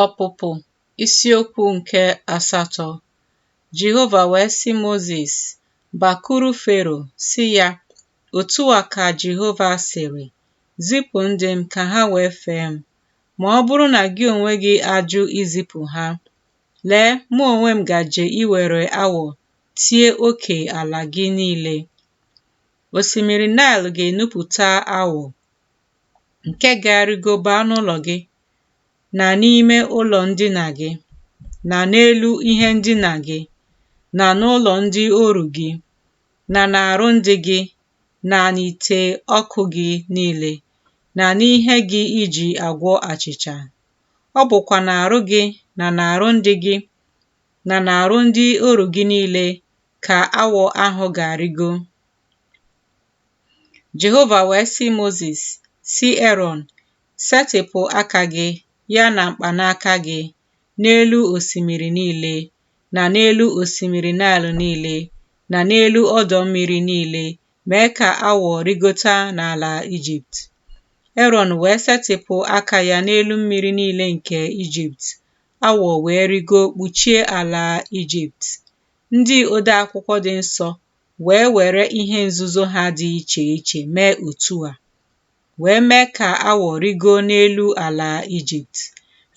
Ọpụpụ isiokwu nke asatọ Jehova wee sị Mozis, Bakuru Fero, sị ya, Otu a ka Jehova sịrị, Zipụ ndị m ka ha wee fee m. Ma ọ bụrụ na gị onwe gị ajụ izipụ ha, lee, mụ onwe m gaje iwere awọ tie oke ala gị niile. Osimiri Naịl ga-enupụta awọ, nke ga-arịgo baa n'ụlọ gị na n'ime ụlọ ndina gị na n'elu ihe ndina gị na n'ụlọ ndị oru gị na n'arụ ndị gị na n'ite ọkụ gị niile na n'ihe gị iji agwọ achịcha. Ọ bụkwa n'arụ gị na n'arụ ndị gị na n'arụ ndị oru gị niile ka awọ ahụ ga-arịgo. Jehova wee sị Mozis, Sị Erọn, Setịpụ aka gị ya na mkpanaka gị n'elu osimiri niile, na n'elu osimiri Naịl niile, na n'elu ọdọ mmiri niile, mee ka awọ rịgota n'ala Ijipt. Erọn wee setịpụ aka ya n'elu mmiri niile nke Ijipt, awọ wee rịgo kpuchie ala Ijipt. Ndị odeakwụkwọ dị nsọ wee were ihe nzuzo ha dị iche iche mee otu a, wee mee ka awọ rịgo n'elu ala Ijipt.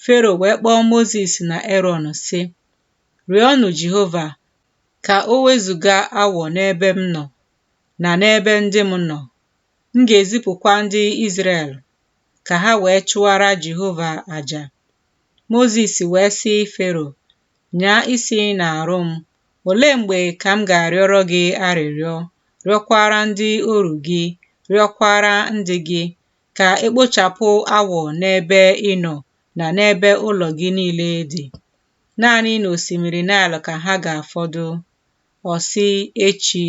Fero wee kpọọ Mozis na Erọn, sị, Rịọnụ Jehova ka o wezụga awọ n'ebe m nọ na n'ebe ndị m nọ. M ga-ezipụkwa ndị Izrel ka ha wee chụara Jehova aja. Mozis wee sị Fero, Nyaa isi n'arụ m. Olee mgbe ka m ga-arịọrọ gị arịrịọ, rịọkwara ndị oru gị, rịọkwara ndị gị, ka e kpochapụ awọ n'ebe ị nọ na n'ebe ụlọ gị niile dị? Naanị n'osimiri Naịl ka ha ga-afọdụ. Ọ sị, Echi.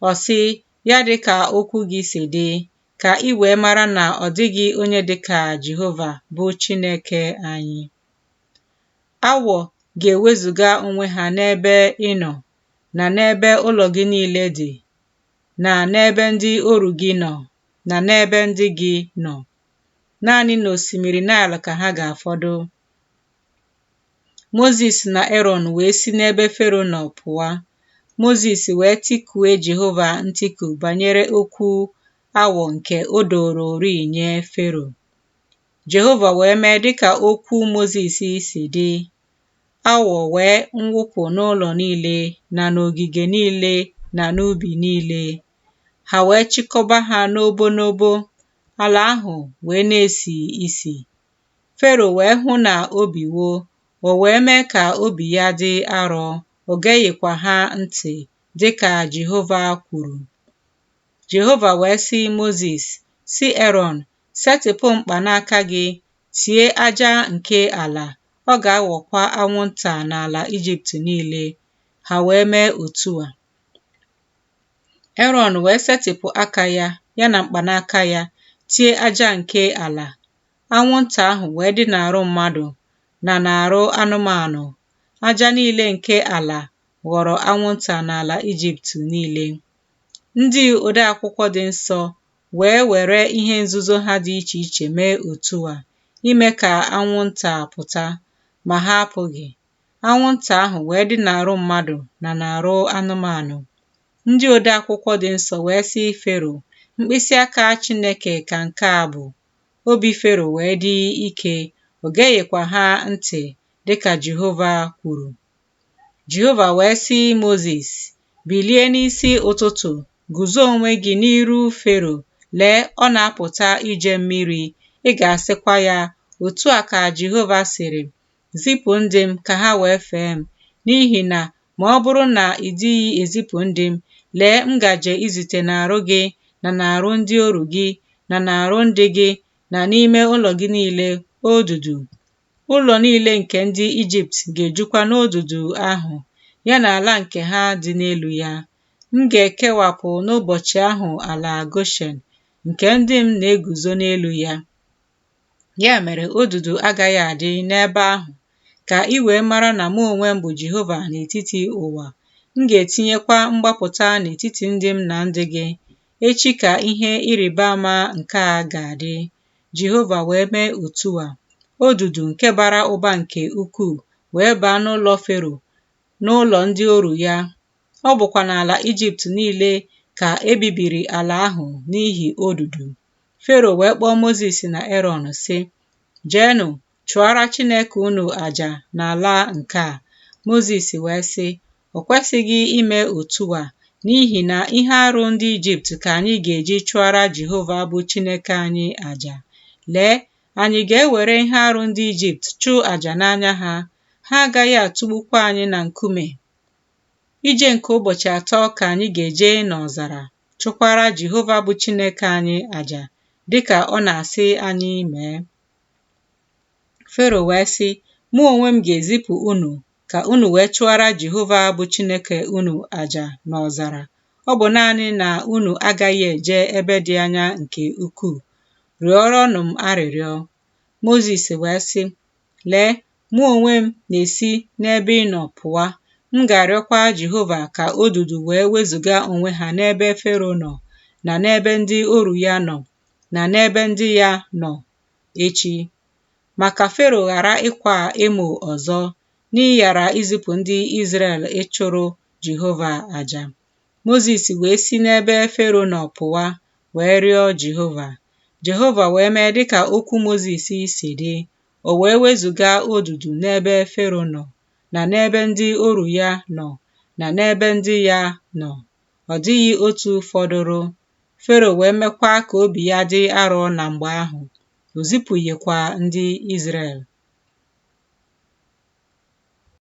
Ọ sị, Ya dị ka okwu gị si dị, ka i wee mara na ọ dịghị onye dị ka Jehova, bụ Chineke anyị. Awọ ga-ewezụga onwe ha n'ebe ị nọ, na n'ebe ụlọ gị niile dị, na n'ebe ndị oru gị nọ, na n'ebe ndị gị nọ. Naanị n'osimiri Naịl ka ha ga-afọdụ. Mozis na Erọn wee si n'ebe Fero nọ pụa. Mozis wee tikue Jehova ntiku banyere okwu awọ nke o dowororịị nye Fero. Jehova wee mee dịka okwu Mozis si dị, awọ wee nwụpụ n'ụlọ niile na n'ogige niile na n'ubi niile, ha wee chịkọba ha n'obo n'obo, ala ahụ wee na-esi isi. Fero wee hụ na o biwo, o wee mee ka obi ya dị arọ, o geghịkwa ha ntị, dị ka Jehova kwuru. Jehova wee sị Mozis, sị Erọn, Setịpụ mkpanaka gị, tie aja nke ala, ọ ga-aghọkwa anwụnta n'ala Ijipt niile. Ha wee mee otu a. Erọn wee setịpụ aka ya, ya na mkpanaka ya, tie aja nke ala. Anwụnta ahụ wee dị n'arụ mmadụ na n'arụ anụmanụ. Aja niile nke ala ghọrọ anwụnta n'ala Ijipt niile. Ndị odeakwụkwọ dị nsọ wee were ihe nzuzo ha dị iche iche mee otu a ime ka anwụnta pụta, ma ha apụghị. Anwụnta ahụ wee dị n'arụ mmadụ na n'arụ anụmanụ. Ndị odeakwụkwọ dị nsọ wee sị Fero, Mkpịsị aka Chineke ka nke a bụ. Obi Fero wee dị ike, o geghịkwa ha ntị, dị ka Jehova kwuru. Jehova wee sị Mozis, Bilie n'isi ụtụtụ, guzo onwe gị n'iru Fero, lee, ọ na-apụta ije mmiri. Ị ga-asịkwa ya, Otu a ka Jehova sịrị, Zipụ ndị m ka ha wee fee m, n'ihi na ma ọ bụrụ na ị dịghị ezipụ ndị m, lee, m gaje izite n'arụ gị na n'arụ ndị oru gị na n'arụ ndị gị na n'ime ụlọ gị niile odudu. Ụlọ niile nke ndị Ijipt ga-ejukwa n'odudu ahụ, ya na ala nke ha dị n'elu ya. M ga-ekewapụ n'ụbọchị ahụ ala Goshen, nke ndị m na-eguzo n'elu ya. Ya mere, odudu agaghị adị n'ebe ahụ, ka i wee mara na mụ onwe m bụ Jehova n'etiti ụwa. M ga-etinyekwa mgbapụta n'etiti ndị m na ndị gị. Echi ka ihe ịrịba ama nke a ga-adị. Jehova wee mee otu a. Odudu nke bara ụba nke ukwuu wee baa n'ụlọ Fero, n'ụlọ ndị oru ya. Ọ bụkwa n'ala Ijipt niile ka e bibiri ala ahụ n'ihi odudu. Fero wee kpọọ Mozis na Erọn, sị, Jeenụ chụọra Chineke unu aja n'ala nke a. Mozis wee sị, O kwesịghị ime otu a, n'ihi na ihe arụ ndị Ijipt ka anyị ga-eji chụọra Jehova bụ Chineke anyị aja. Lee, anyị ga-ewere ihe arụ ndị Ijipt chụọ aja n'anya ha, ha agaghị atụgbukwa anyị na nkume. Ije nke ụbọchị atọ ka anyị ga-eje n'ọzara chụkwara Jehova bụ Chineke anyị aja, dịka ọ na-asị anyị mee. Fero wee sị, Mụ onwe m ga-ezipụ unu ka unu wee chụọra Jehova bụ Chineke unu aja n'ọzara. Ọ bụ naanị na unu agaghị eje ebe dị anya nke ukwuu. Rịọrọnụ m arịrịọ. Mozis wee sị, Lee, mụ onwe m na-esi n'ebe ị nọ pụwa. M ga-arịọkwa Jehova ka odudu wee wezụga onwe ha n'ebe Fero nọ, na n'ebe ndị oru ya nọ, na n'ebe ndị ya nọ, echi. Ma ka Fero ghara ịkwa emo ọzọ n'ịghara izipụ ndị Izrel ịchụrụ Jehova aja. Mozis wee si n'ebe Fero nọ pụwa wee rịọ Jehova. Jehova wee mee dị ka okwu Mozis si dị, o wee wezụga odudu n'ebe Fero nọ, na n'ebe ndị oru ya nọ, na n'ebe ndị ya nọ. Ọ dịghị otu fọdụrụ. Fero wee mekwa ka obi ya dị arọ na mgbe ahụ, o zipụghịkwa ndị Izrel.